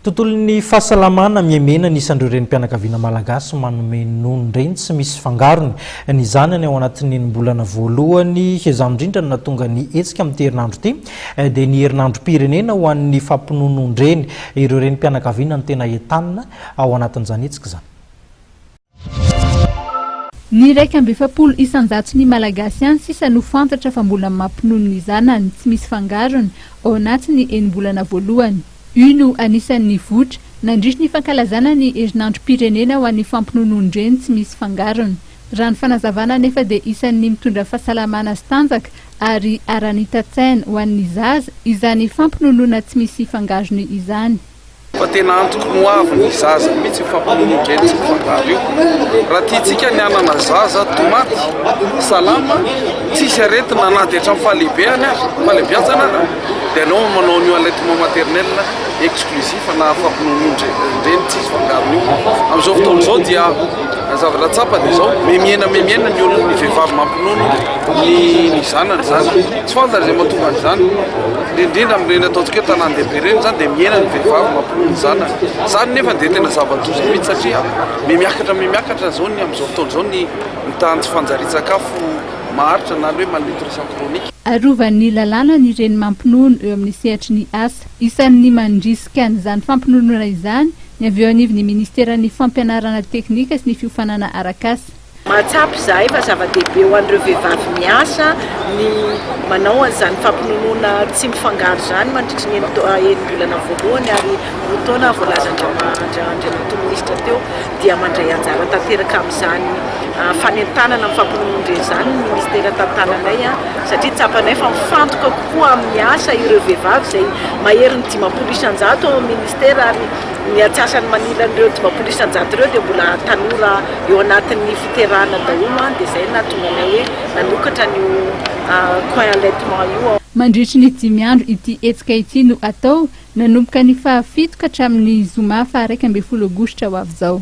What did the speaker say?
Tontolon'ny fahasalamana miemena ny isan'ireo renim-pianakaviana malagasy manome nonon-dreny tsy misy fangarony. Ny zanany ao anatin'ny enim-bolana voalohany, izany indrindra no nahatonga ny hetsika amin'ity herinandro ity, dia ny herinandrom-pirenena ho an'ny fampinonon-dreny. Ireo renim-pianakaviana no tena entanina ao anatin'izany hetsika izany. Ny iraika amby efapolo isan-jaton'ny Malagasy any sisa no fantatra fa mbola mampinono ny zanany tsy misy fangarony ao anatin'ny enim-bolana voalohany. Io no anisan'ny voitra nandritry ny fankalazana ny herinandrom-pirenena ho an'ny fampinonoan-dreny tsy misy fangarony. Raha ny fanazavana anefa dia isan'ny mitondra fahasalamana sy tanjaka ary aranitan-tsaina ho an'ny zaza izany fampinonoana tsy misy fangarony izany. Fa tena antoko ny hoavy ny zaza mihitsy io famonoana indreny tsy fantaro io. Raha tiantsika ny hanana zaza to maty salama tsisy aretina na dia hatramin'ny fahalehibeany aza, fahalebiazana aza dia aleo manao an'io allaitement maternel exclusif na famonoan'io-ndreny tsisy fangarony io. Amin'izao fotoana izao dia zavatra tsapa dia izao memiena memiena ny olona ny vehivavy mampinono ny ny zanany izany. Tsy fantany izay mahatonga an'izany. Indrindra amin'ireny ataontsika hoe tanàn-dehibe ireny izany dia mihena ny vehivavy mampinono ny zanany. Izany nefa dia tena zava-doza mihitsy satria mihamiakatra mihamiakatra izao ny amin'izao fotoana izao ny ny tahan'ny tsy fanjarian-tsakafo maharitra na ny hoe malnutrition chronique. Arovan'ny lalàna ny reny mampinono eo amin'ny sehatry ny asa. Isan'ny mandrisika an'izany fampinonoana izany ny avy eo anivon'ny Ministeran'ny Fampianarana teknika sy ny fiofanana arak'asa. Mahatsapa izahay fa zava-dehibe ho an'ireo vehivavy miasa ny manao an'izany fampinonoana tsy mifangaro izany mandritry ny enim-bolana voalohany ary roa taona voalazan-dRandriamatoa Minisitra teo dia mandray anjara tanteraka amin'izany fanentanana amin'ny fampinonoan-dre izany ny Ministera tantananay satria tsapanay fa mifantoka kokoa amin'ny asa ireo vehivavy izay maherin'ny dimampolo isan-jato ao amin'ny Ministera ary Ny antsasany manilan'ireo dimampolo isan-jato ireo dia mbola tanora eo anatin'ny fiterahana daholo dia izay no nahatonga anay hoe nanokatra an'io coin allaitement io. Mandritry ny dimy andro ity hetsika ity no hatao, nanomboka ny fahafito ka hatramin'ny zoma faha iraika ambin'ny folo aogositra ho avy izao.